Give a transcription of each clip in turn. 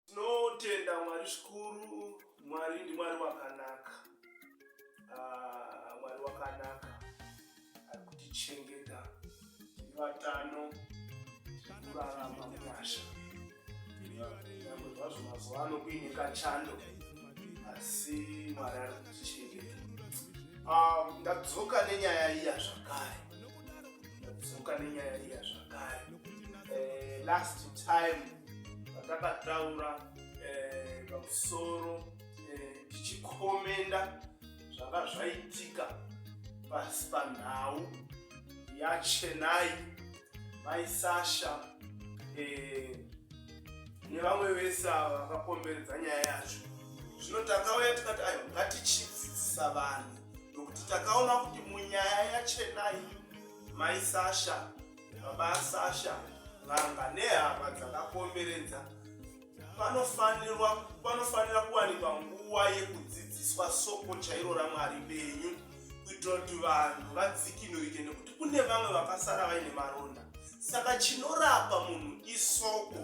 Tinotenda Mwari zvikuru, Mwari ndiMwari wakanaka. Ah, Mwari wakanaka ari kutichengeta tiri vatano kurarama munyasha nyangwe zvazvo mazuva ano kuine kachando asi mwari ari kutichengeta ah, ndadzoka nenyaya iya zvakare ndadzoka nenyaya iya zvakare eh, last time vatakataura eh, pamusoro eh, tichikomenda zvanga zvaitika pasi panhau yachenai mai sasha eh, nevamwe vese ava vakakomberedza nyaya yacho zvino takauya tikati ayo ngatichidzidzisa vanhu nokuti takaona kuti munyaya yachenai mai sasha Baba Sasha vanga nehama dzakakomberedza panofanirwa panofanira kuwanikwa nguva yekudzidziswa soko chairo ramwari benyu kuitira kuti vanhu vadzikinurike nekuti kune vamwe vakasara vaine maronda saka chinorapa munhu isoko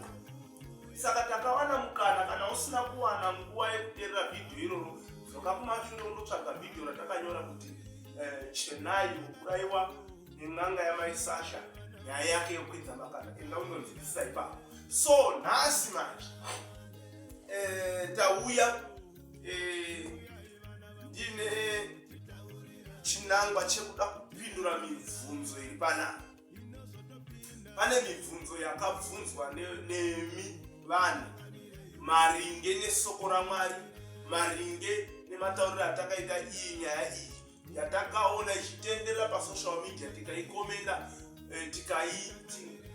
saka takawana mukana kana usina kuwana nguva yekuterera vhidhiyo iroro dzoka kumashure undotsvaga vhidhiyo ratakanyora kuti eh, chenai ukuraiwa nen'anga yamai sasha nyaya yake yokwidza makana enda unonzwisisa ipapo so nhasi manje eh, tauya eh, ndine chinangwa chekuda kupindura mibvunzo iri panapa pane mibvunzo yakabvunzwa nemi vanhu maringe nesoko ramwari maringe nematauriro atakaita iyi nyaya iyi yatakaona ichitenderera pasocial media tikaikomenda eh,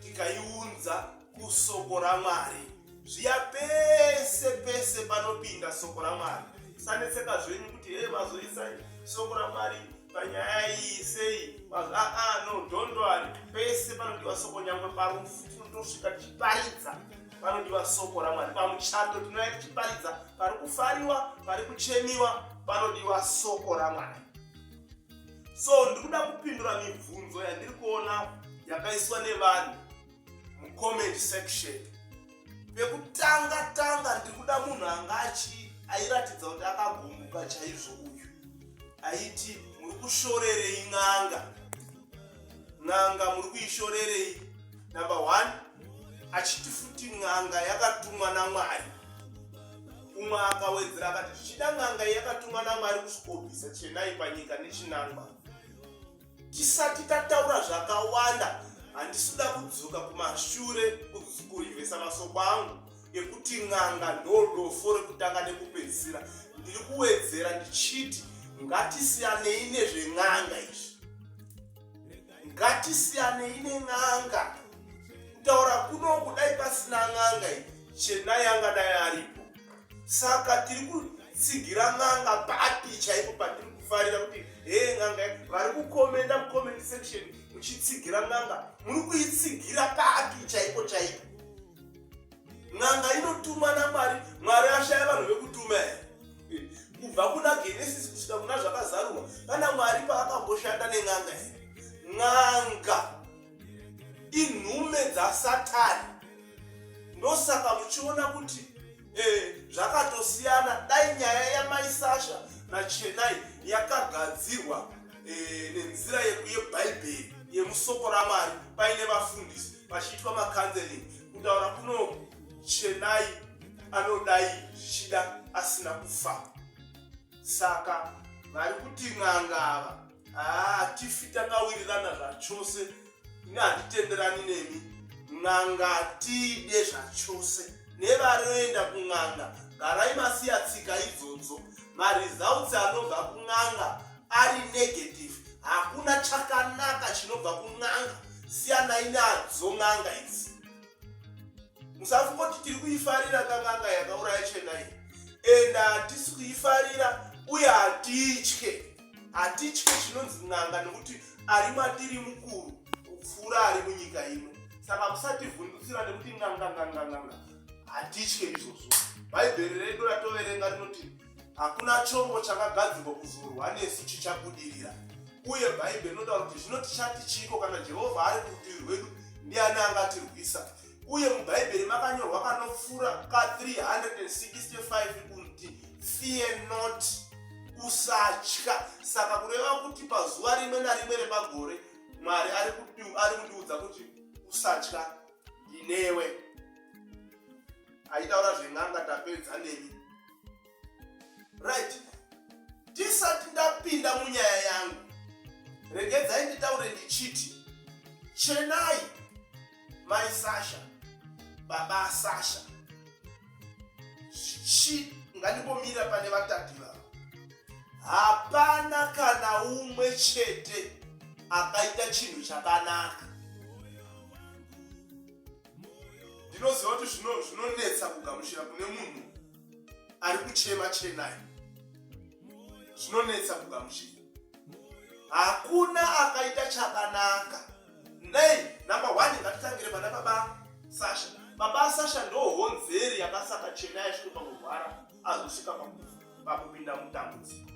tikaiunza kusoko ramwari zviya pese pese panopinda soko ramwari sanetseka zvenyu kuti hee mazoisa soko ramwari panyaya iyi sei aa no dondwari pese panodiwa soko nyangwe parufu tinotoshika tichiparidza panodiwa soko ramwari pamuchato tinouya tichiparidza pari kufariwa pari kuchemiwa panodiwa soko ramwari so ndikuda kupindura mibvunzo yandiri kuona yakaiswa nevanhu mucomment section pekutanga tanga ndiri kuda munhu anga achi airatidza kuti akagumbuka chaizvo uyu aiti muri kushorerei n'anga n'anga muri kuishorerei number one achiti futi n'anga yakatumwa namwari umwe akawedzera akati zvichida n'anga yakatumwa namwari kusvikobvisa chenai panyika nechinangwa tisati tataura zvakawanda handisi kuda kudzoka kumashure kurivesa masoko angu yekuti n'anga ndodofo rekutanga nekupedzisira ndiri kuwedzera ndichiti ngatisiyanei nezven'anga izvi ngatisiyanei nen'anga kutaura kuno kudai pasina n'anga iyi chenai angadai aripo saka tiri kutsigira n'anga papi chaipo patiri kufarira kuti hee n'anga vari kukomenda mucomment section muchitsigira n'anga muri kuitsigira papi chaipo chaipo n'anga inotumwa namwari mwari ashaya vanhu vekutuma here kubva kuna genesis kusvika kuna zvakazarurwa kana mwari paakamboshanda nen'anga here n'anga inhume dzasatani ndosaka muchiona kuti eh, zvakatosiyana dai nyaya yamai sasha nachenai yakagadzirwa eh, nenzira yebhaibheri yemusoko ramwari paine vafundisi pachiitwa makanzeling kutaura kuno chenai anodai zvichida asina kufa saka vari kuti n'anga ava hatifi ah, takawirirana zvachose ini handitenderani nemi n'anga tiide zvachose nevanoenda kun'anga garai masiya tsika idzodzo maresults anobva kun'anga ari negative hakuna chakanaka chinobva kun'anga siyanai nadzo n'anga idzi musafungoti tiri kuifarira nganganga yakauraya chenai and hatisi kuifarira uye hatitye hatitye chinonzi n'anga nekuti ari matiri mukuru kupfuura ari munyika ino saka musativhundutsira nekuti n'anga nganganganga hatitye izvozvo bhaibheri redu ratoverenga rinoti Hakuna chombo chakagadzirwa kuzorwa nesu chichabudirira. Uye Bhaibheri rinotaura kuti zvino tichati chiiko kana Jehovha ari kurutivi rwedu, ndiani angatirwisa? Uye muBhaibheri makanyorwa kanopfuura ka365 kunti fear not, usatya. Saka kureva kuti pazuva rimwe narimwe repagore Mwari ari kundiudza kuti usatya, ndinewe. Aitaura zven'anga tapedza nemi. right ndisati ndapinda munyaya yangu regedzai nditaure ndichiti chenai mai sasha baba sasha chi ngandimbomirira pane vatatu vavo hapana kana umwe chete akaita chinhu chakanaka ndinoziva kuti zvinonetsa kugamuchira kune munhu ari kuchema chenai zvinonetsa kugamuchira hakuna akaita chakanaka nei number one ngatitangire pana baba sasha baba sasha ndohonzeri yakasaka chenai zvinopa kurwara azosvika pakupinda mudambudziko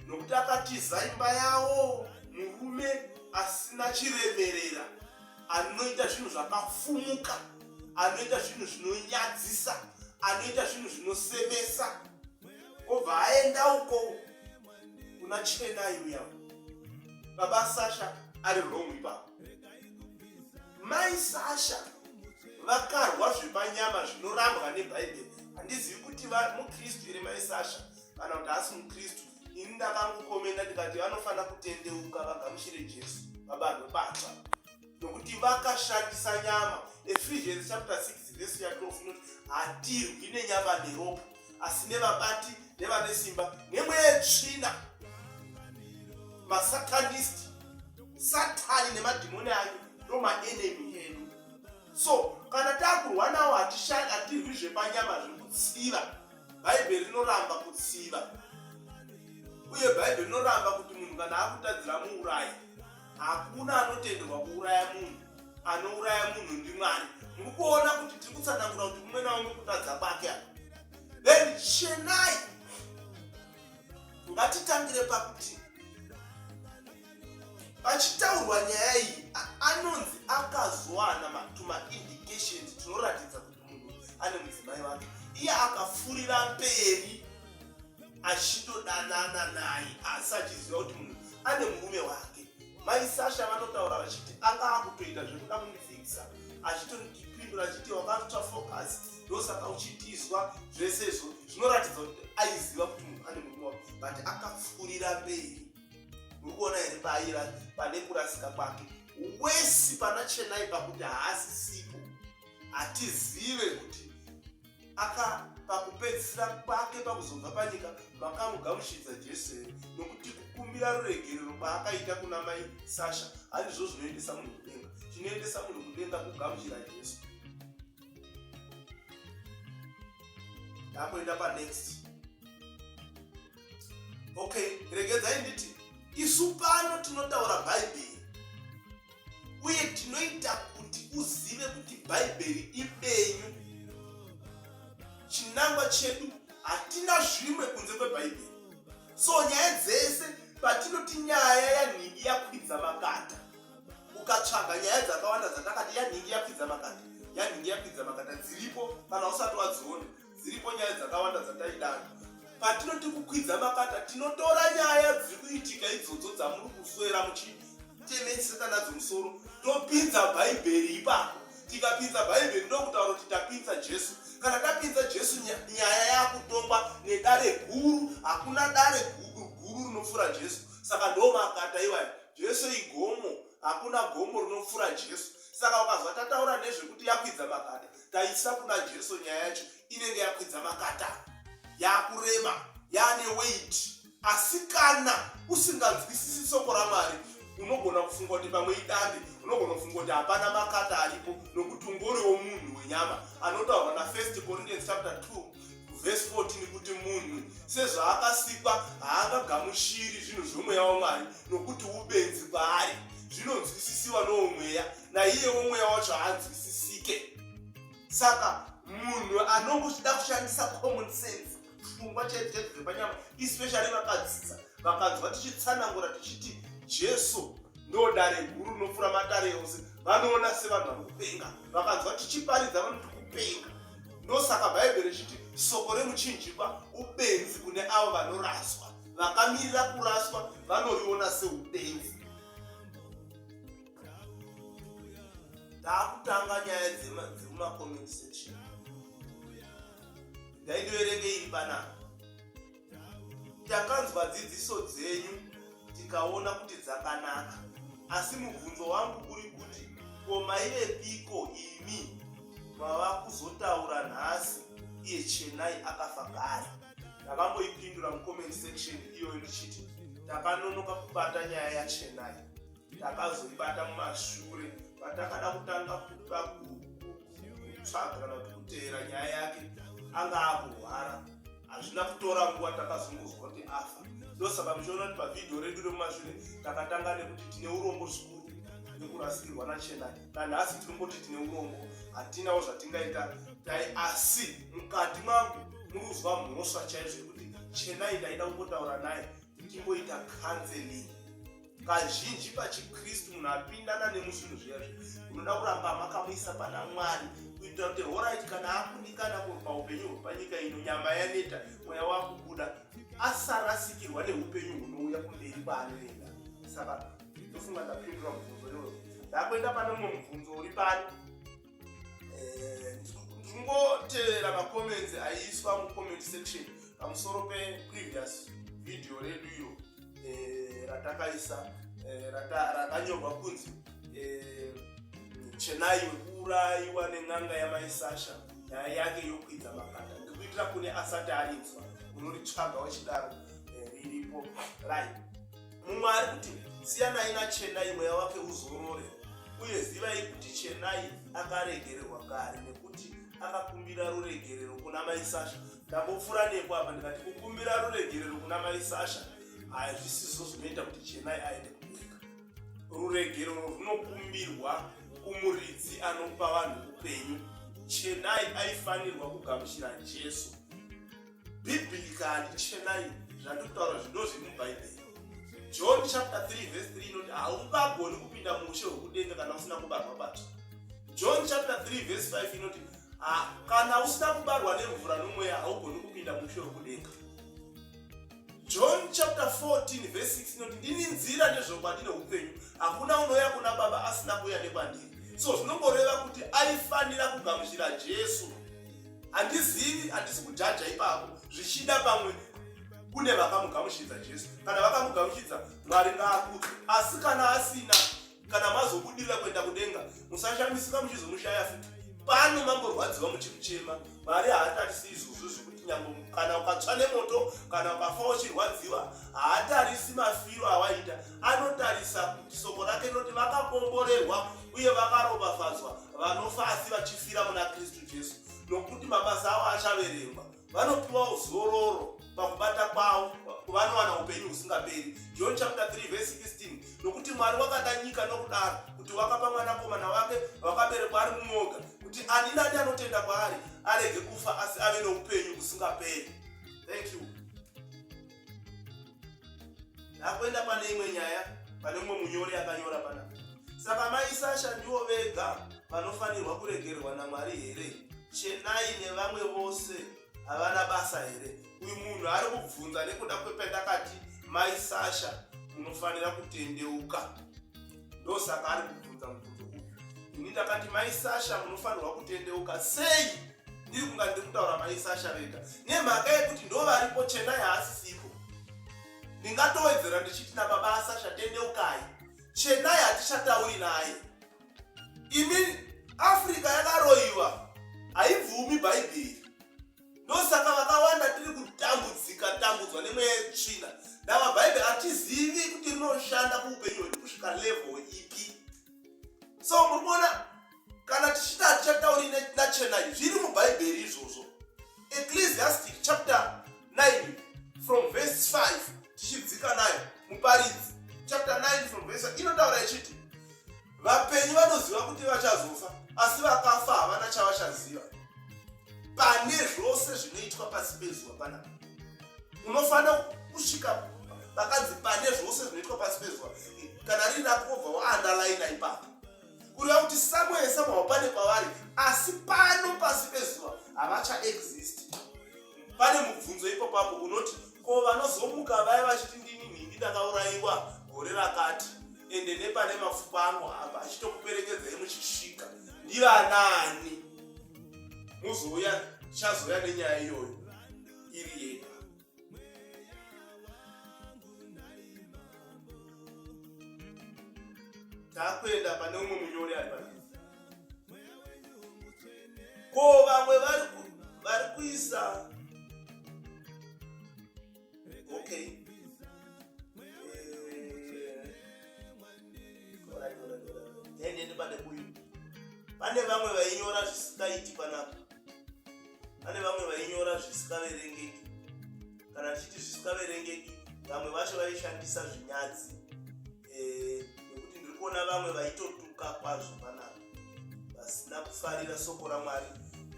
nokuti akatiza imba yawo murume asina chiremerera anoita zvinhu zvakafumuka anoita zvinhu zvinonyadzisa anoita zvinhu zvinosemesa obva aenda uko kuna chenai uya baba sasha ari wrong ipapo mai sasha vakarwa zvepanyama zvinorambwa nebhaibheri handizivi kuti mukristu here mai sasha kana kuti haasi mukristu ini ndakangokomenda ndikati vanofanira kutendeuka vagamuchire jesu vabanhu batsva nokuti vakashandisa nyama ephesians chapter 6 vesi ya 12 inoti hatirwi nenyama neropa asi nevabati nevane simba nemweya yetsvina masatanist satani nemadhimoni ayo ndomaenemy edu so kana takurwa nawo hatirwi zvepanyama zvekutsiva bhaibheri rinoramba kutsiva uye bhaibheri rinoramba kuti munhu kana akutadzira muurayi hakuna anotenderwa kuuraya munhu anouraya munhu ndimwari muri kuona kuti tiri kutsanangura kuti kumwe naumwe kutadza kwake apa then chenai ngatitangire pakuti pachitaurwa nyaya iyi anonzi akazowana matuma indications tinoratidza kuti ane mudzimai wake iye akafurira mberi achitodanana naye asi achiziva kuti munhu ane murume wake mai sasha vanotaura vachiti anga akutoita zvekuda kundifikisa achitondipindura achiti wakatoita focus ndosaka uchitizwa zvese izvo zvinoratidza kuti aiziva kuti munhu ane murume wake but akafurira mberi muri kuona here paira pane kurasika kwake wesi pana chenai pakuti haasisipo hatizive kuti aka pakupedzisira kwake pakuzobva panyika vakamugamuchidza jesu here nokuti kukumbira ruregerero kwaakaita kuna mai sasha handizvo zvinoendesa munhu kudenga chinoendesa munhu kudenga kugamuchira jesu ndakuenda panext okay regedzai nditi isu pano tinotaura bhaibheri uye tinoita kuti uzive kuti bhaibheri ibenyu chinangwa chedu hatina zvimwe kunze kwebhaibheri so nyaya dzese patinoti nyaya yanhingi yakwidza makata ukatsvaga nyaya dzakawanda dzatakati yanhingi yakwidza makata yanhingi yakwidza makata dziripo kana usati wadziona dziripo nyaya dzakawanda dzataidana patinoti kukwidza makata tinotora nyaya dziri kuitika idzodzo dzamuri kuswera muchiteneseka nadzo musoro topinza bhaibheri ipapo tikapinza bhaibheri ndokutaura kuti tapinza jesu kana tapinza jesu nyaya yakutongwa nedare guru hakuna dare guru guru rinopfuura jesu saka ndomakata iwayo jesu igomo hakuna gomo rinopfuura jesu saka ukazwa tataura nezvekuti yakwidza makata taisa kuna jesu nyaya yacho inenge yakwidza makata yakurema yaane weit asi kana usinganzwisisi soko ramwari unogona kufunga kuti pamwe idande unogona kufunga kuti hapana makata aripo nokuti ungoriwo munhu wenyama anotaurwa nafirst corinthians chapter 2 vhesi 14 kuti munhu sezvaakasikwa haangagamuchiri zvinhu zvomweya wamwari nokuti ubenzi kwaari zvinonzwisisiwa nowo mweya naiyewo mweya wacho haanzwisisike saka munhu anonge uchida kushandisa common sense pfungwa chaidzo chaidzo dzepanyama especially vakadzidza vakanzwa tichitsanangura tichiti jesu ndo dare guru rinopfuura madare ose vanoona sevanhu vanopenga vakanzwa tichiparidza vanoti kupenga ndosaka bhaibheri richiti soko remuchinjikwa ubenzi kune avo vanoraswa vakamirira kuraswa vanoriona seubenzi taakutanga nyaya dzemumacomment section ndaidoerenge iri panapa takanzwa dzidziso dzenyu tikaona kuti dzakanaka asi mubvunzo wangu uri kuti ko maive piko imi mava kuzotaura nhasi iye chenai akafa kare ndakamboipindura mucomment section iyoyo ndichiti takanonoka kubata nyaya yachenai takazoibata mumashure patakada kutanga kuda kutsvaga kana kuti kuteera nyaya yake anga akurwara hazvina kutora nguva takazongozwa kuti afa ndosaka muchiona kuti pavhidhiyo redu remumashure takatanga nekuti tine urombo zvikuru nekurasikirwa nachena nanhasi tinomboti tine urombo hatinawo zvatingaita dai asi mukati mangu munozwa mhosva chaizvo yekuti chenai ndaida kungotaura naye ndimboita kanzelingi kazhinji pachikristu munhu apindana nemuzvinhu zviya zvi unoda kuramba makamuisa pana mwari kuitira kuti horaiti kana akundikana kurwa upenyu hwepanyika ino nyama yaneta mweya wakubuda asarasikirwa neupenyu hunouya kumberi kwaanoenda saka ndofunga ndapindura mubvunzo iwoyo ndakuenda pane mumwe mubvunzo uri pano eh, ndingoteerera macomments aiswa mucomment section pamusoro peprevious video redu iyo eh, ratakaisa eh, rakanyorwa kunzi chenai wekuurayiwa nen'anga yamaisasha nyaya yake yokwidza makanda ndikuitira kune asati arinzwa unoritsvaga wachidaro riripo right mumwe ari kuti siyanai nachenai mweya wake uzorore uye zivai kuti chenai akaregererwa kare nekuti akakumbira ruregerero kuna mai sasha ndambopfura nepo apa ndikati kukumbira ruregerero kuna mai sasha hazvisizo zvinoita kuti chenai aende kunyika ruregerero runokumbirwa kumuridzi anopa vanhu upenyu chenai aifanirwa kugamuchira jesu bhibhiri kani chenai zvandiri kutaura zvinozvi mubhaibheri john chapter 3 verse 3 inoti haungagoni kupinda muushe hwekudenga kana usina kubarwa batsva john chapter 3 verse 5 inoti ah, kana usina kubarwa nemvura nomweya haugoni kupinda muushe hwekudenga john chapter 14 verse 6 inoti ndini nzira nezvokwadi neupenyu hakuna unoya kuna baba asina kuya nekwandiri so zvinongoreva kuti aifanira kugamuchira jesu handizivi handisi kujaja ipapo zvichida pamwe kune vakamugamuchidza jesu kana vakamugamuchidza mwari ngaakudzwe asi kana asina kana mazobudirira kuenda kudenga musashamisika muchizomushaya futi pano mamborwadziwa muchikuchema mwari haatarisi izvozvo zvekuti nyambo kana ukatsva nemoto kana ukafa uchirwadziwa haatarisi mafiro awaita anotarisa kuti soko rake rinoti vakakomborerwa uye vakaropafadzwa vanofa asi vachifira muna kristu Jesu, nokuti mabasa avo achaverengwa. Vanopiwa uzororo pakubata kwavo vanowana upenyu husingaperi. John chapter 3 verse 16. Nokuti Mwari wakada nyika nokudaro kuti wakapa mwanakomana wake wakaberekwa ari mumoga kuti ani nani anotenda kwaari arege kufa asi ave noupenyu husingaperi. Thank you. ndakuenda pane imwe nyaya pane umwe munyori akanyora pana saka mai sasha ndivo vega vanofanirwa kuregererwa namwari here chenai nevamwe vose havana basa here uyu munhu ari kubvunza nekuda kwependakati mai sasha munofanira kutendeuka ndosaka ari kubvunza mubvunzo uyu ini ndakati mai sasha munofanirwa kutendeuka sei ndiri kunga ndiri kutaura mai sasha vega nemhaka yekuti ndo varipo chena yaasisipo ndingatowedzera ndichiti nababa asasha tendeukai chenai hatichatauri naye imi afrika yakaroyiwa haibvumi bhaibheri ndosaka vakawanda tiri kutambudzika tambudzwa nemweya yetsvina ndava bhaibheri hatizivi kuti rinoshanda kuupenyu hwedu kusvika level ipi so muri kuona kana tichiti hatichatauri nachenai zviri mubhaibheri izvozvo ecclesiastic chapter 9 from verse 5 tichidzika nayo muparidzi chapter 9 from verse inotaura ichiti vapenyu vanoziva kuti vachazofa asi vakafa havana chavachaziva pane zvose zvinoitwa pasi pezuva panapa unofanira kusvika vakanzi pane zvose zvinoitwa pasi pezuva kana riri rakobva waandalaina ipapo kureva kuti somewhere somehow pane kwavari asi pano pasi pezuva havachaexist pane mubvunzo ipopapo unoti ko vanozomuka vaya vachiti ndini nhindi ndakaurayiwa gore rakati ende nepane mapfupa anohamba achitokuperekedzai muchisvika ndivanani muzouya tichazoya nenyaya iyoyo iri yega takuenda pane umwe munyori ari pa ko vamwe vari kuisa okay eh, pane vamwe vainyora zvisikaiti panapa pane vamwe vainyora zvisingaverengeki kana tichiti zvisingaverengeki vamwe vacho vaishandisa zvinyadzi eh, nekuti ndiri kuona vamwe vaitotuka kwazvo panavo vasina kufarira soko ramwari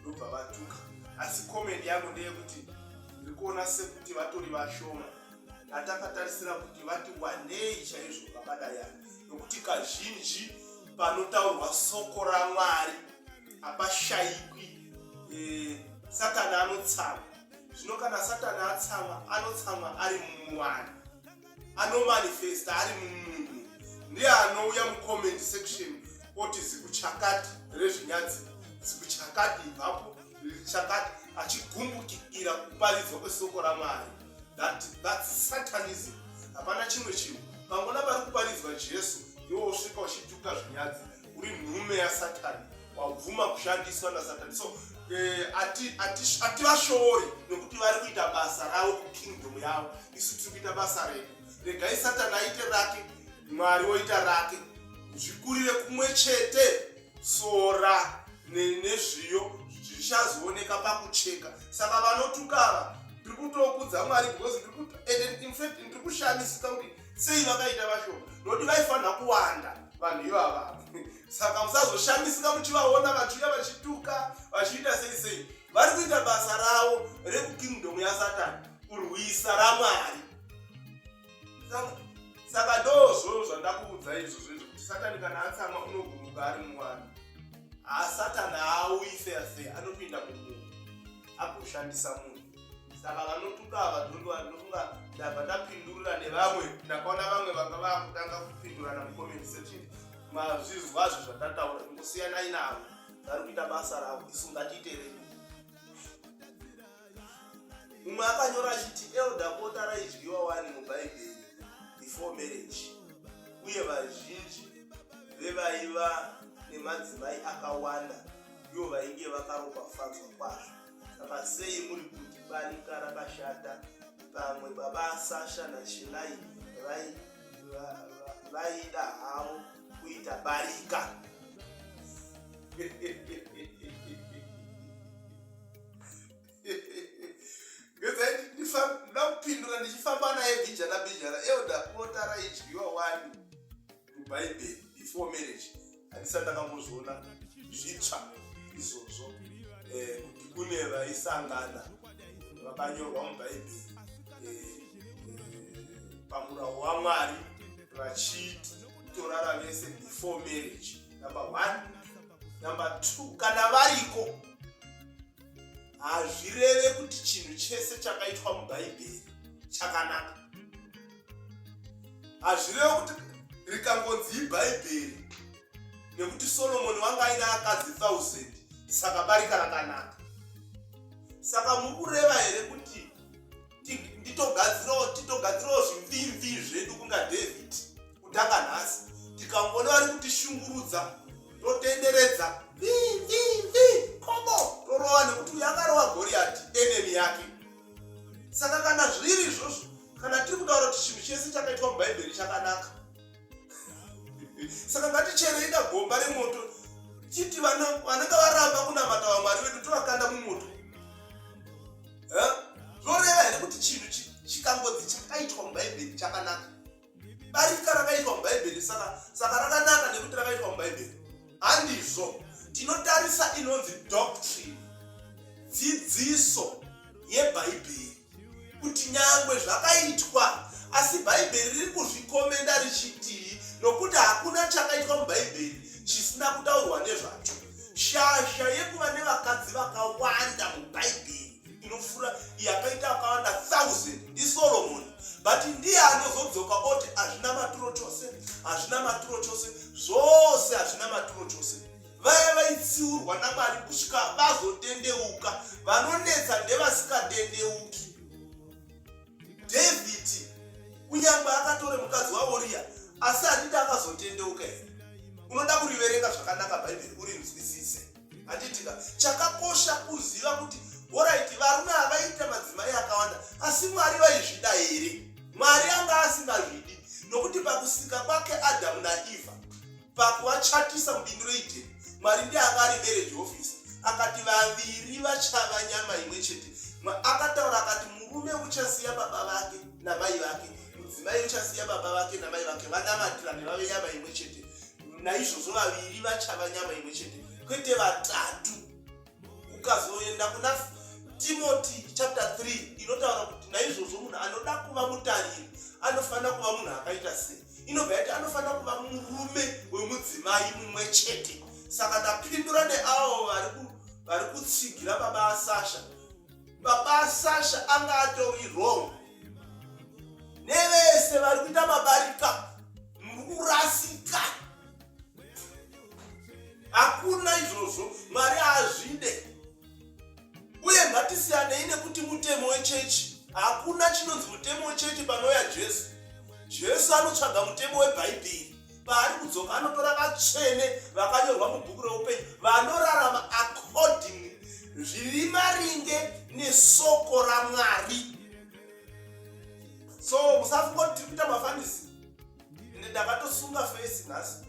ndobva vatuka asi komendi yangu ndeyekuti ndiri kuona sekuti vatori vashoma atakatarisira kuti vati wanei chaizvo vakadayana nokuti kazhinji panotaurwa soko ramwari hapashaikwi eh, satani anotsamwa zvino kana satani atsamwa anotsamwa ari mumwana anomanifesta ari mumunhu ndiye anouya mucomment section oti zikuchakati rezvinyadzi zikuchakati ibvapo chakati achigumbukira kuparidzwa kwesoko ramwari that, that satanism hapana chimwe chinhu pangona pari kuparidzwa jesu iwo usvika uchituka zvinyadzi uri nhume yasatani wabvuma kushandiswa nasatani so eh, hativashori nekuti vari kuita basa ravo kukingdom yavo isu tiri kuita basa redu regai satani aite rake mwari woita rake zvikurire kumwe chete sora nezviyo zvichazooneka pakucheka saka vanotukava tiri kutokudza mwari because ende infact ndiri kushamisika kuti sei vakaita vashoma nokuti vaifanira kuwanda vanhu ivava saka musazoshamisika muchivaona vachiuya vachituka vachiita sei sei vari kuita basa ravo rekukingdom yasatani kurwisa ramwari saka ndozvo zvandakuudza izvo zvezvo kuti satani kana atsamwa unoguruka ari muwani haasatani aauyi feya feya anotoenda kumunhu agoshandisa munhu saka vanotuka ava dzondo ndinofunga ndabva ndapindurira nevamwe ndakaona vamwe vanga vakutanga kupindurana mucomment section mazvizwazvo zvatataura ingosiyanai navo vari kuita basa ravo isu ngatiiterei mumwe akanyora achiti elda pota raidyiwa wani mubhaibheri before marriage uye vazhinji vevaiva nemadzimai akawanda ivo vainge vakaropafadzwa kwazvo saka sei muri kuti barika rakashata pamwe baba sasha nachilai vaida havo kuita barika ndakupindura ndichifamba naye bijana bijana euda bota raidyiwa wani mubhaibheri before marriage handisa ndakambozviona zvitsva izvozvo eh, kuti kune vaisangana vakanyorwa mubhaibheri eh, eh, pamurawo wamwari vachiti torara vese before marriage number one number two kana variko hazvireve kuti chinhu chese chakaitwa mubhaibheri chakanaka hazvireva kuti rikangonzi ibhaibheri nekuti solomoni wanga aina akadzi 1000 saka barika rakanaka saka mukureva here kuti nditogadzirawo titogadzirawo zvimvimvi zvedu kunga david kutanga nhasi tikangona vari kutishungurudza totenderedza vivimvi komo torova nekuti uyo akarova goriyati enemi yake saka kana zviri izvozvo kana tiri kutaura kuti chinhu chese chakaitwa mubhaibheri chakanaka saka ngaticherei kagomba remoto chiti vanenge varamba kunamata vamwari vedu tovakanda mumoto zvoreva here kuti chinhu chikangodzi chakaitwa mubhaibheri chakanaka barika rakaitwa mubhaibheri saka rakanaka nekuti rakaitwa mubhaibheri handizvo tinotarisa inonzi doctrine dzidziso yebhaibheri kuti nyangwe zvakaitwa asi bhaibheri riri kuzvikomenda richitii nokuti hakuna chakaitwa mubhaibheri chisina kutaurwa nezvacho shasha yekuva nevakadzi vakawanda mubhaibheri inofura yakaita akawanda thousand ndisoromoni but ndiye anozodzoka oti hazvina maturo chose hazvina maturo chose zvose hazvina maturo chose vaya vaitsiurwa namwari kusvika vazotendeuka vanonetsa ndevasikatendeuki dhavhidhi kunyange akatore mukadzi waoriya asi handiti akazotendeuka here unoda kuriverenga zvakanaka bhaibheri urinzwisise handitika chakakosha kuziva kuti horaiti varume havaita madzimai akawanda asi mwari vaizvida here mwari anga asingazvidi nokuti pakusika kwake adhamu naevha pakuvachatisa mubindu reidheni mwari ndiye anga ari marriage officer akati vaviri vachava nyama imwe chete akataura akati murume uchasiya baba vake namai vake mudzimai uchasiya baba vake namai vake vanamatirane vave nyama imwe chete naizvozvo vaviri vachava nyama imwe chete kwete vatatu ukazoenda kuna timoti chapter 3 inotaura kuti naizvozvo munhu anoda kuva mutariri anofanira kuva munhu akaita sei inobva yati anofanira kuva murume wemudzimai mumwe chete saka ndapindura neavo vari kutsigira baba asasha baba asasha anga atori wrong nevese vari kuita mabarika muri kurasika hakuna izvozvo mwari haazvide uye ngatisiyanei nekuti mutemo wechechi hakuna chinonzi mutemo wechechi panouya jesu jesu anotsvaga mutemo webhaibheri paari kudzoka anotora vatsvene vakanyorwa mubhuku reupenyu vanorarama according zviri maringe nesoko ramwari so musafungoti tiri kuita mafanisi ende ndakatosunga face nhasi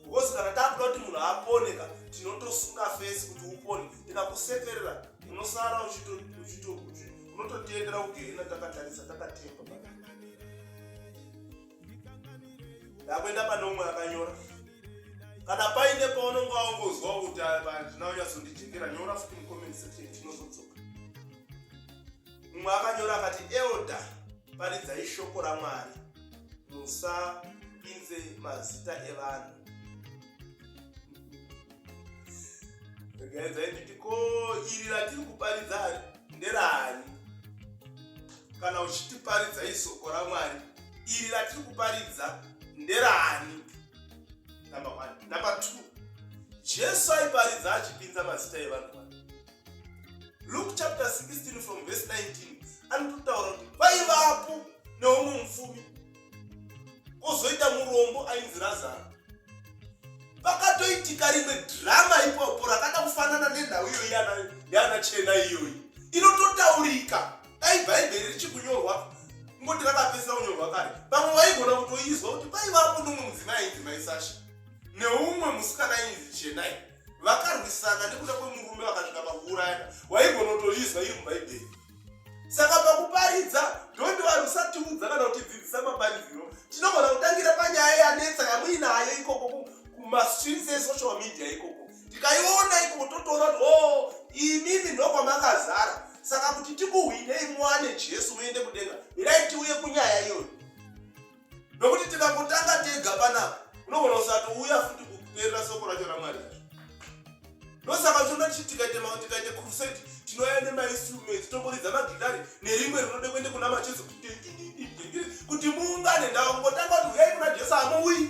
because kana takuda kuti munhu aponeka tinotosunga face kuti upone tikakusekerera unosara unototiendera kugehena takatarisa takatemba ndakuenda pane umwe akanyora kana paine paunenge waongozwa kuti andina unyatsondijekera nyora futi mucomment section tinozodzoka mumwe akanyora akati elda paridzai shoko ramwari musapinze mazita evanhu regaedzai nditi ko iri ratiri kuparidza nderaani kana uchitiparidza isoko ramwari iri ratiri kuparidza nderaani number one number two jesu aiparidza achipinza mazita evanhu luke chapter 16 from verse 19 anototaura kuti paivapo neumwe mufumi kozoita murombo ainzi razaro pakatoitika rimwe drama ipopo rakada kufanana nenhau iyoyi yana chena iyoyi inototaurika dai bhaibheri richikunyorwa ngoti rakapesera kunyorwa kare vamwe vaigona kutoizwa kuti paivapo nomwe mudzimai ainzi maisasha neumwe musikana ainzi chenai vakarwisana nekuda kwemurume vakasvika pakuurayana waigonotoizwa iri mubhaibheri saka pakuparidza dhondi vanhu usatiudza kana kutidzidzisa mapariziro tinogona kutangira panyaya yanetsa yamuinayo ikoko kumastreets esocial media ikoko tikaiona ikoko totoona kuti o oh, imimi ndokwamakazara saka kuti tikuhwinei muwane jesu muende kudenga mirai tiuye kunyaya iyoyo nokuti tikangotanga tega panapa unogona usati uya futi kuperera soko racho ramwari yacho ndosaka tinoda tichi tikaitema tikaite crusade tinouya nemainstruments tongoridza magitari nerimwe rinode kuende kuna macheso kuti muungane ndakangotanga kuti uyai kuna jesu hamuuyi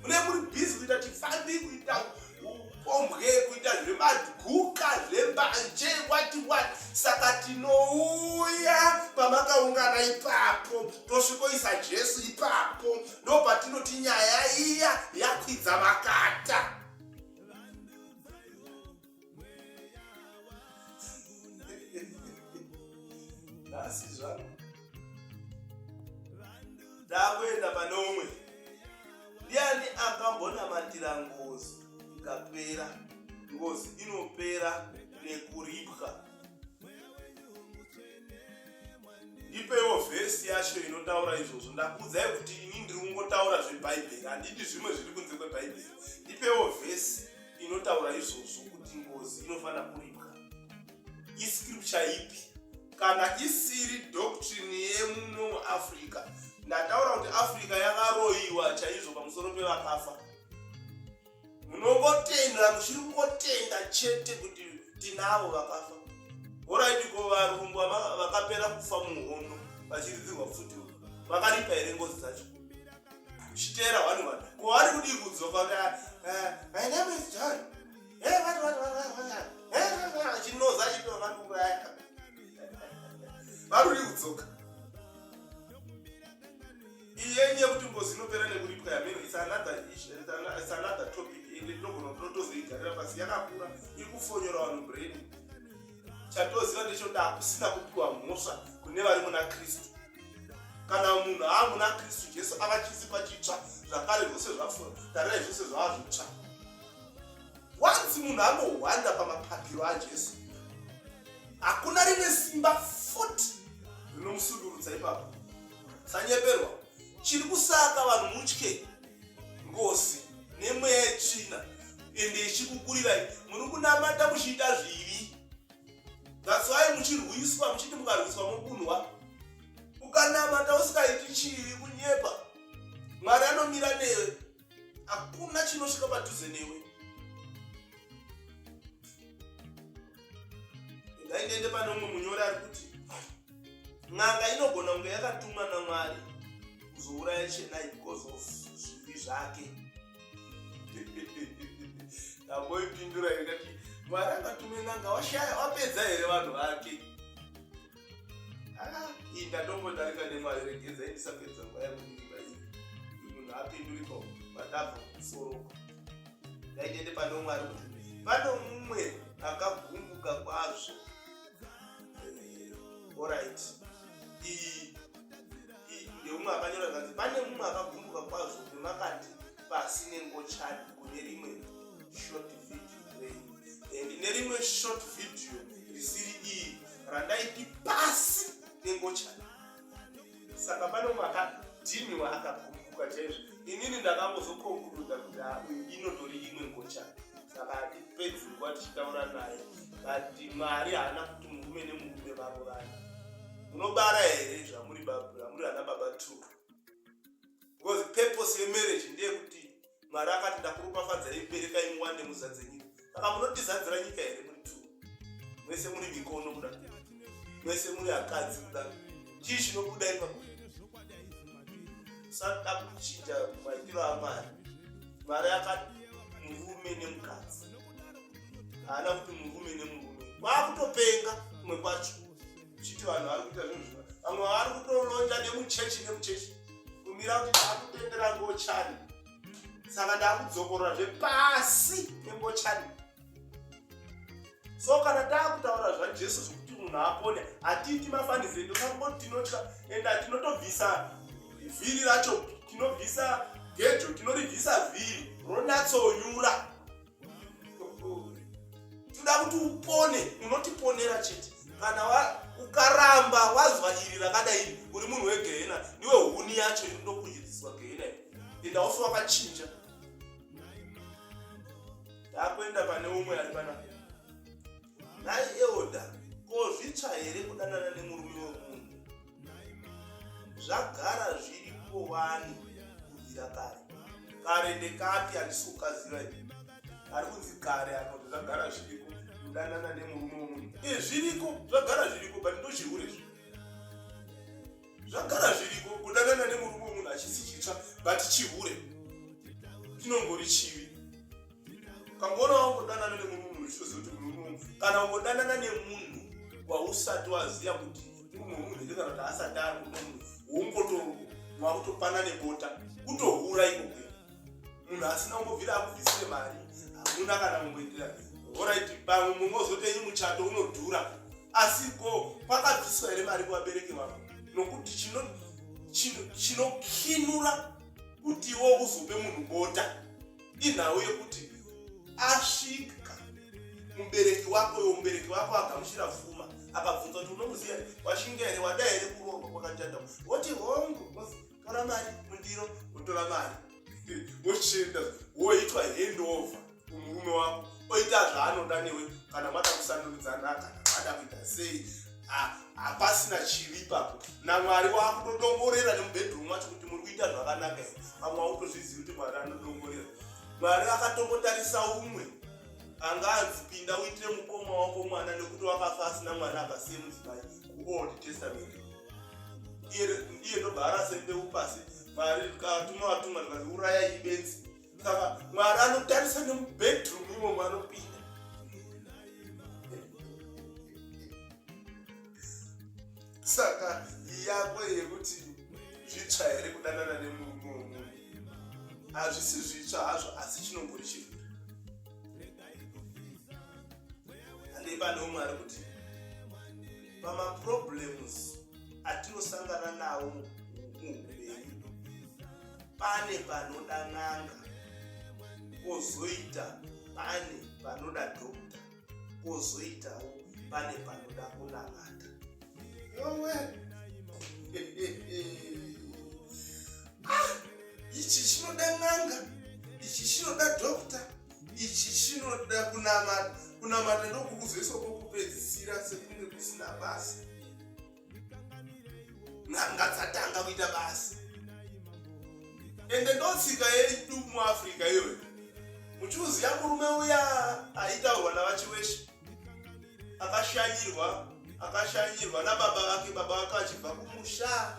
mune muri busy kuita chifambi kuita upombwe kuita zvemadhuka zvembanje wati wati saka tinouya pamakaungana ipapo tosvikoisa jesu ipapo ndo patinoti nyaya iya yakwidza makata asi zvangu ndakuenda pane umwe ndiani akambonamatira ngozi ikapera ngozi inopera nekuripwa ndipeiwo vhesi yacho inotaura izvozvo ndakuudzai kuti ini ndiri kungotaura zvebhaibheri handidi zvimwe zviri kunze kwebhaibheri ndipeiwo vhesi inotaura izvozvo kuti ngozi inofanira kuripwa iscripture ipi kana isiri doctrine yemuno muafrica ndataura kuti africa yakaroyiwa chaizvo pamusoro pevakafa munongotenda muchiri kungotenda chete kuti tinavo vakafa horaiti ko varungu vakapera kufa muhondo vachiridzirwa pfuti vakaripa here ngozi dzacho chitera hwani hwani ko vari kudii kudzoka eh, eh, my name is john varuri kudzoka iye nye kuti ngozi inopera nekuripwa yameno it's another issue it's another topic ende tinogona kuti totozoigarira pasi yakakura iri kufonyora vanhu brain chatoziva ndechoti hakusina kupiwa mhosva kune vari muna kristu kana munhu aa muna kristu jesu ava chisipa chitsva zvakare zvose zvafura tarirai zvose zvava zvitsva once munhu anohwanda pamapakiro ajesu hakuna rine simba fut rinomusundurudza ipapo sanyeperwa chiri kusaka vanhu mutye ngozi nemweya yetsvina ende ichikukurirai muri kunamata muchiita zvivi gatswai muchirwiswa muchiti mukarwiswa mokunwa ukanamata usikaiti chivi kunyepa mwari anomira newe hakuna chinosvika padhuze newe ndai ndiende pane umwe munyori ari kuti n'anga inogona kunge yakatumwa namwari kuzouraya chenai because of zvivi zvake tamboipindura ikati mwari akatume n'anga washaya wapedza here vanhu vake Ah, iyi ndatombodarika nemwari regedza indisapedza nguva yakundiiva iyi munhu apindurika madavo musoro ndaitende pane mwari kuti pane mumwe akagumbuka kwazvo orit iyi ndeumwe akanyora kanzi pane mumwe akagumbuka kwazvo nemakati pasi nengochani kune rimwe short video and nerimwe short video risiri iyi randaipi pasi nengochani saka pane umwe akadhini waakakumbuka chaizvo inini ndakangozokonkuruda kuti inotori imwe ngochani saka hatipedzi nguva tichitaura naye kati mwari haana kuti murume nemurume vavo vana munobara here zvamuri baba zvamuri ana baba two because purpose yemarriage ndeyekuti mwari akati ndakuropafadzai muberekai muwande muzadze nyika saka munotizadzira nyika here muri tu mwese muri mikono kuda mwese muri akadzi kuda chii chinobuda ipapo sada kuchinja maitiro amwari mwari akati murume nemukadzi haana kuti murume nemurume kwakutopenga kumwe kwacho uchiti vanhu vari kuita zvinhu zvino vamwe vari kutolonja nemuchechi nemuchechi kumira kuti akutendera ngochani saka ndakudzokorora zvepasi nengochani so kana takutaura zvajesu zvekuti munhu apone hatiiti mafanize ndosakoti tinotya and tinotobvisa vhiri racho tinobvisa gejo tinoribvisa vhiri ronatsonyura toda kuti upone unotiponera chete kana ukaramba wazwa iri rakadai uri munhu wegehena ndiwe huni yacho inodokuyedziswa gehena enda ufe wakachinja takuenda pane umwe ari pana nhai eoda ko zvitsva here kudanana nemurume wemunhu zvagara zviripo wani kubvira kare kare ndekati handisi kukaziva i ari kunzi kare apo zvagara zviriko kudanana nemurume womunhu e eh, zviriko zvagara zviriko but ndozvihure zvi zvagara zviriko kudanana nemurume womunhu hachisi chitsva but chihure chinongori chivi ukamboona wangodanana nemunhu munhu uchitoziva kuti munhu munhu kana ungodanana nemunhu wausati waziva kuti munhu wemunhu here kana kuti asati ari munhu munhu wongoto mwakutopana nebota kutohura ikoko munhu asina kumbobvira akubvisire mari hamuna kana kumboitira orit pamwe mumwe ozotenyi muchato unodhura asi ko kwakabviswa here mari kuvabereki vako nokuti chinokinura kuti iwo uzope munhu bota inhau yekuti asvika mubereki wako yo mubereki wako agamuchira pfuma akabvunza kuti unomuziva here washinga here wada here kuroorwa kwakachanda woti hongu tora mari mundiro wotora mari wochienda woitwa handover kumurume wako oita zvaanoda newe kana mada kusandurudzana kana mada kuita sei Ah, hapasina chivi ipapo namwari wakutodongorera nemubedroom wacho kuti muri kuita zvakanaka here pamwe wakutozvizivi kuti mwari anodongorera mwari akatombotarisa umwe anga anzi pinda uite mukoma wako mwana nekuti wakafa asina mwana akasiye mudzimai kuold testament iye ndobva arasembeu pasi mwari katuma vatuma ndikati uraya ibenzi saka mwari anotarisa nemubedroom imo mwanopinda saka yako yekuti zvitsva here kudanana nemurume wemunhu hazvisi zvitsva hazvo asi chinongori chinhu anei pane umwe ari kuti pamaproblems atinosangana nawo muupenyu pane panoda n'anga kozoita pane panoda dokta kozoitawo pane panoda kunamata yowe ah, ichi chinoda n'anga ichi chinoda dokta ichi chinoda kunamata kunamata ndokukuzoiswa kwokupedzisira sekunge kusina basa n'anga dzatanga kuita basa ende ndotsika yedu muafrica iyoyo muchiuziya murume uya aitaurwa navachiweshe akashanyirwa akashanyirwa nababa vake baba vake vachibva kumusha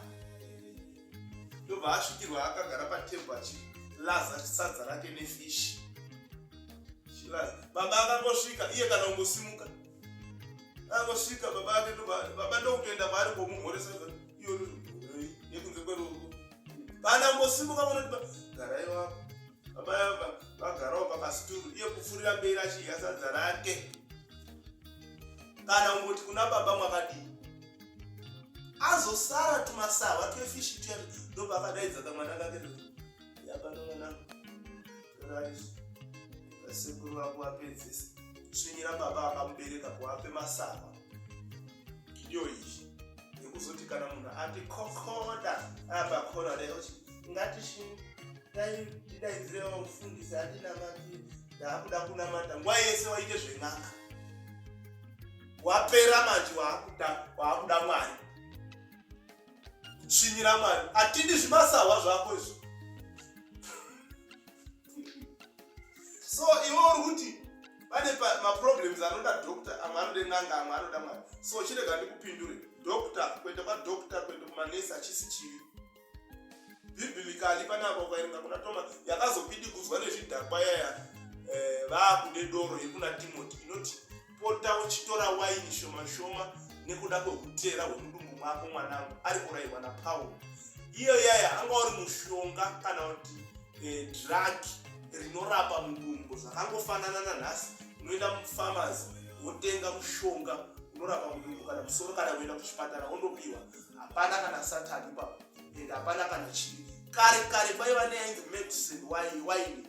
ndobva asvikirwa akagara patebhu achilaza sadza rake nefishi baba akangosvika iye kana kungosimuka anosvika baba ake baba ndokutoenda maari komumhoresa iyo yekunze kweruoko kana ngosimuka munoti garai wako baba vagarawo pakasituru iye kufurira mberi achidya sadza rake kana ungoti kuna baba mwakadii azosara tumasahwa twefishi tuya ndobva akadaidza kamwana kake yabanomwanangu sekuru vako vapedzesa tsvinyira baba akamubereka kuvape masava iyo izvi nekuzoti kana munhu ati kokoda apa kona reoti ngatishinga ndidaidzirewo mufundisi andinamati ndaakuda kunamata nguva yese waite zven'anga wapera manje waakuda mwari svinyira mari atidi zvimasahwa zvako izvo so iwe uri kuti pane maproblems anoda doctor amwe anode n'anga amwe anoda mwari so chirega ndikupindure doctor kuenda kwadoctor kuenda kumanesi achisi chivi biblically pane apa ukaerenga kuna toma yakazopidigudzwa nezvidhakwa yaya eh, vaakude doro yekuna timoti inoti pota uchitora waini shoma shoma nekuda kwehutera hwemudumbu mwako mwanangu ari kurayirwa napaul iyo yaya anga uri mushonga kana kuti eh, drug rinorapa mudumbu zvakangofanana nanhasi unoenda mufarmas wotenga mushonga unorapa mudumbu kana musoro kana kuenda kuchipatara wondopiwa hapana kana satani ipapo and hapana kana chii kare kare vaiva neainzi medicine waini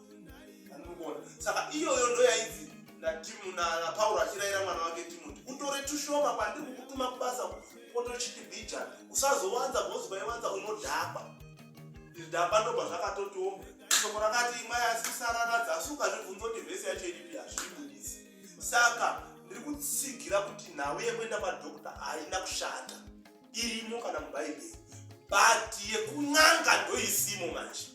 saka iyoyo ndoyainzi napauro achirayira mwana wake timoti utore tushoma kwandiri kukutuma kubasa potochiti bija usazowanza bhozi kwaiwanza unodhakwa zvidhakwa ndobva zvakatotiwo shoko rakati imwai asi kusarara dzasi ukazvibvunza kuti vhesi yacho iripi hazvibudisi saka ndiri kutsigira kuti nhau yekuenda kwadokta haina kushata irimo kana mubhaibheri but yekun'anga ndoisimo manje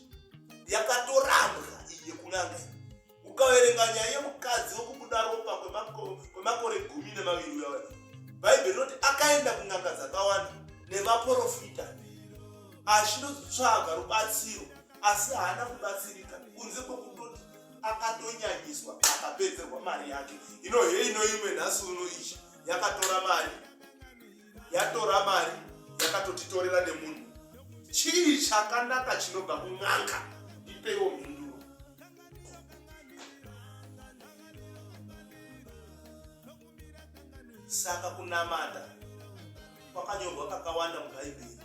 yakatorambwa iyi yekun'anga iyi ukaverenga nyaya yemukadzi wokubuda ropa kwemakore gumi nemaviri uya bhaibheri rinoti akaenda kun'anga dzakawanda nemaporofita achinotsvaga rubatsiro asi haana kubatsirika kunze kwekutoti akatonyanyiswa akapedzerwa mari yake ino hei inoimwe nhasi uno ichi yakatora mari yatora mari yakatotitorera nemunhu chii chakanaka chinobva kun'anga ipeiwo mhinduro saka kunamata kwakanyorwa kakawanda mubhaibheri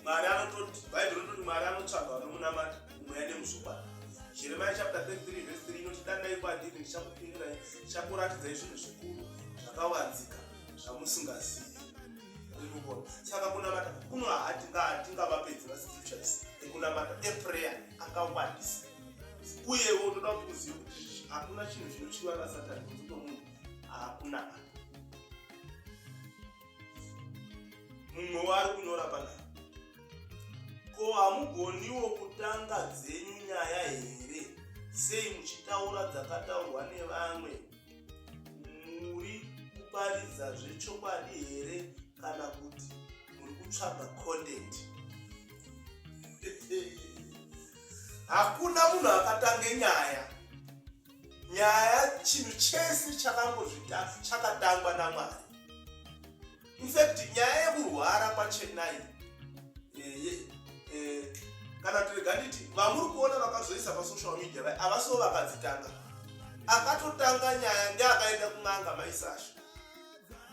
mari anototi bhaibheri rinototi mari anotsvagwa nomunamata mweya nemuzokwadi jeremiya chapta 33 vhesi 3 inoti danai kwandiri ndichakupindurai ndichakuratidzai zvinhu zvikuru zvakawanzika zvamusingazivi rinoona saka kunamata kuno hatingavapedzi vascriptures ekunamata eprayer akawandisa uyewo unoda kuti muzive kuti hakuna chinhu chinochiva nasatani kunzi nomunhu hakunamata mumwe waari kunyora panapa ko hamugoniwo kutanga dzenyu nyaya here sei muchitaura dzakataurwa nevamwe muri kuparidza zvechokwadi here kana kuti muri kutsvaga content hakuna munhu akatange nyaya nyaya chinhu chese chakangozvita chakatangwa namwari infact nyaya yekurwara kwachenai eh, eh, kana tirega nditi vamuri kuona vakazoisa pasocial media vai avasiwo vakadzitanga akatotanga nyaya ndeakaenda kun'anga maisasha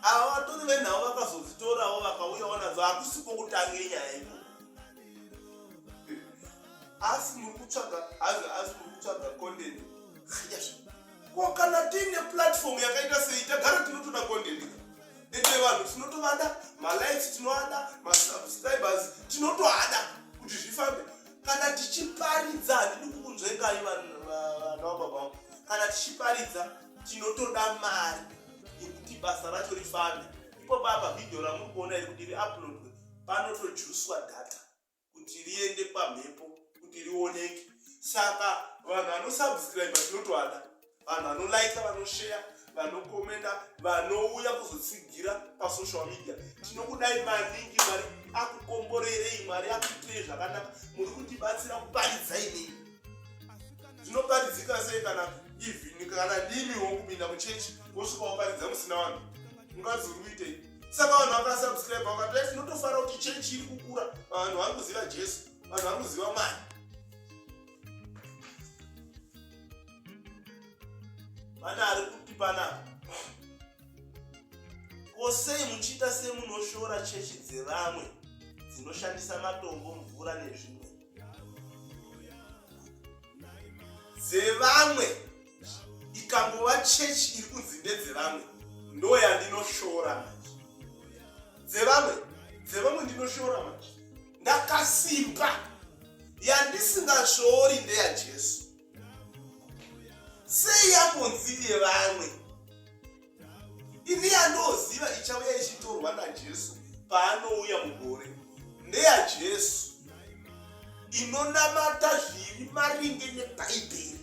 ava vatori venhau vakazodzitorawo vakauyawo nadzo hakusiko kutange nyaya iko asi muri kutsvaga asi muri kutsvaga content ko kana tiine platform yakaita sei tagara tinotoda content ende vanhu tinotovada malikes tinoada masubscribers tinotoada kuti zvifambe kana tichiparidza handidi kukunzvengai vanhu vababa kana tichiparidza tinotoda mari yekuti basa racho rifambe ipo baba vhidhiyo ramuri kuona iri kuti riuploadwe panotojuswa data kuti riende pamhepo kuti rioneke saka vanhu vanosubscribe tinotoada vanhu vanolaika vanosheya vanokomenda vanouya kuzotsigira pasocial media tinokudai maningi mari akukomborerei mari akuitirei zvakanaka muri kutibatsira kuparidza inini tinoparidzika sei kana even kana ndimi wokupinda muchechi wosvika waparidza musina vanhu ungazi uri kuitei saka vanhu vakasubscribe vakati life ndotofara kuti church iri kukura vanhu vari kuziva jesu vanhu vari kuziva mwari pane ari kuti panapa ko sei muchiita semunoshora chechi dzevamwe dzinoshandisa matombo mvura nezvimwe dzevamwe ikangova chechi iri kunzi ndedzevamwe ndoyandinoshora manje dzevamwe dzevamwe ndinoshora manje ndakasimba yandisingashori ndeyajesu sei yambonzi yevamwe Ini yandoziva ichauya ichitorwa naJesu paanouya mugore ndeyaJesu inonamata zviri maringe nebhaibheri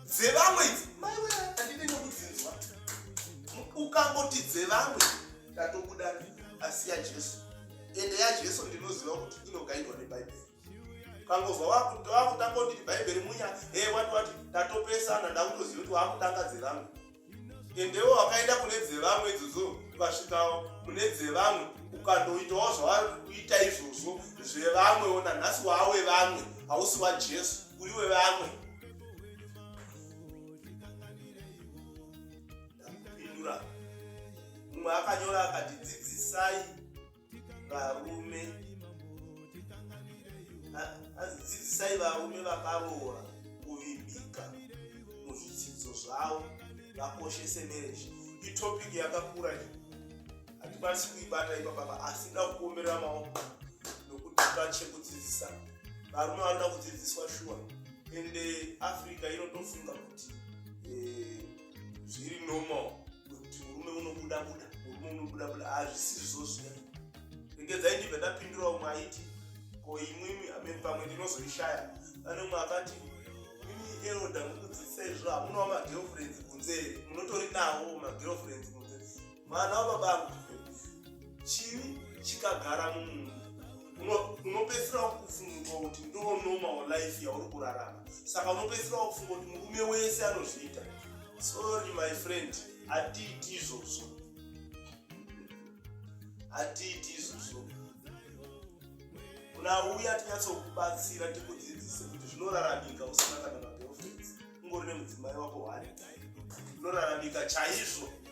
dzevamwe idzi maiwe handine nekudzinzwa ukangoti dzevamwe ndatobuda asi yajesu ende yajesu ndinoziva kuti inogaidwa nebhaibheri ukangonzwa wakutanga kuti bhaibheri munya e eh, wati wati tatopesana ndakutoziva kuti wakutanga dzevamwe endewo wakaenda kune dzevamwe idzodzo ukasvikawo kune dzevamwe ukandoitawo zvavari kuita izvozvo zvevamwe ona nhasi wawe vamwe hausi wajesu uri wevamwe ndakupindura mumwe akanyora akati dzidzisai varume dzidzisai varume vakaroora kuvimbika muzvidzidzo zvavo vakoshese mereji itopiki yakakura iyi hatikwanisi kuibata ipapapa asi ida kuomerera maoko nokuti pachekudzidzisa varume vanoda kudzidziswa shuwa ende africa inotofunga kuti eh, zviri normal kuti murume unobuda buda murume unobuda buda hazvisizvo zviya regedzai ndibva ndapindura umwe aiti ko imwimi amene pamwe ndinozoishaya pane umwe akati imimi eroda mukudzidzisa izvo hamunawo magirlfriends kunze munotori nawo magirlfriends kunze mwana wababangu chivi chikagara mumunhu unopedzisira kufunga kuti ndo normal life yauri kurarama saka unopedzisira kufunga kuti murume wese anozviita sorry my friend hatiiti izvozvo hatiiti izvozvo kuna uya tinyatsokubatsira tikudzidzise kuti zvinoraramika usina kana magirlfriends ungori nemudzimai wako hwari zvinoraramika chaizvo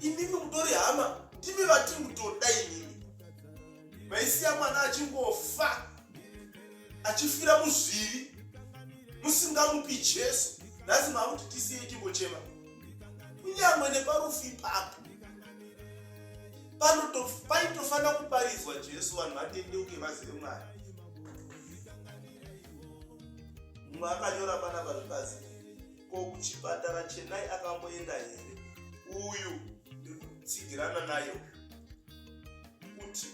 imimi mutori hama ndimi vati mutoda imimi maisiya mwana achingofa achifira muzvivi musingamupi jesu nhasi maakuti tisiye ichingochema kunyangwe neparufu ipapo paitofanira kuparidzwa jesu vanhu vatendeuke vazive mwari mumwe akanyora panapa zvipasi ko kuchipatara chenai akamboenda here uyu ndikutsigirana nayo kuti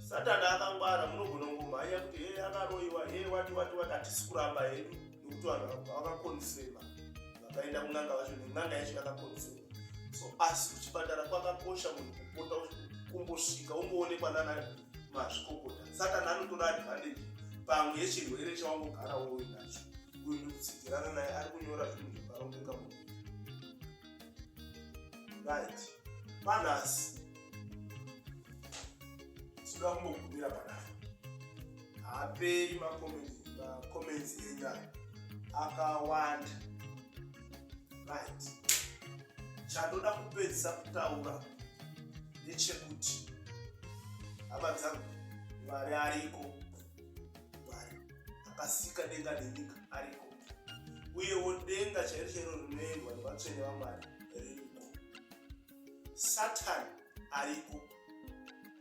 satani akangwara munogona kungomhanya kuti hee akaroiwa hee wati wati wati hatisi kuramba hedu nekuti vanhu vakakonfema vakaenda kun'anga vacho nen'anga yacho yakakonfema so asi kuchipatara kwakakosha munhu kupota kumbosvika umboonekwa nana mazvikokota satani anotora advantage pamwe yechirwere chawangogara woinacho uyu ndikutsidzirana naye ari kunyora zvinhu zvakarongeka mu right panhasi tinoda kumbogumira panapa haaperi macomments enyu ayo akawanda right chandoda kupedzisa kutaura ndechekuti hama dzangu mwari ariko Mwari akasika denga nenyika ariko, uyewo denga chairo chairo rinoendwa nevatsvene vaMwari ririko. Satani ariko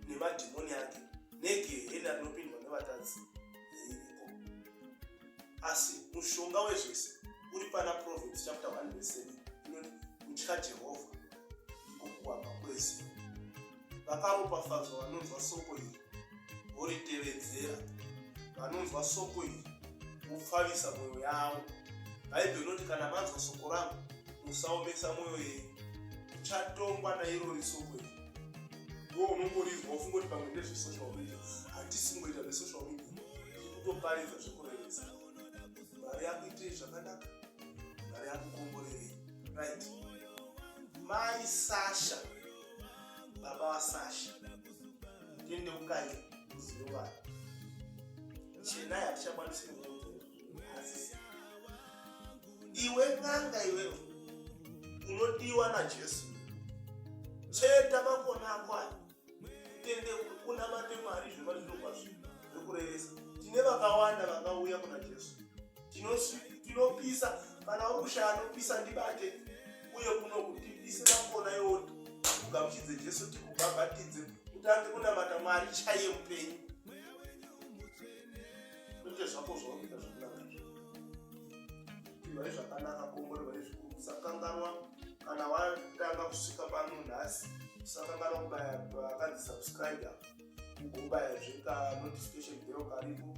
nemadhimoni ake negehena rinopindwa nevatadzi ririko. Asi mushonga wezvese uri pana Proverbs chapter 1 verse 7 inoti kutya Jehovha ndiko kuwamba kwezivo. vakaropafadzwa vanonzwa soko iri voritevedzera vanonzwa soko iri vopfavisa mwoyo yavo bhaibheri rinoti kana manzwa soko rangu musaomesa mwoyo yenyu uchatongwa nairori soko iri wo unongorizwa wofunga kuti pamwe ndezvesocial media handisi kungoita zvesocial media iri kutoparidza zvekurevesa mari yakuitei zvakanaka mari yakukomborerei right mai sasha baba vasasha ndiende kukange muzivo vanhu chena yatichakwanisi kukuazisa iwe n'anga iwewe unodiwa najesu cheta makona ako ayo utende unamate mwari zvema zvinokwazvo zvekurevesa tine vakawanda vakauya kuna jesu tinopisa kana wakushaya anopisa ndibate uye kuno kutipisira mbona yoti ugamuchidze jesu tikubhabhatidze utange kunamata mwari chaiye mupenyu uite zvako zvauita zvakunaka ivai zvakanaka kongore vai zvikuru usakanganwa kana watanga kusvika pano nhasi usakanganwa kubaya akanzi subscribe ugobaya zveka notification bell karipo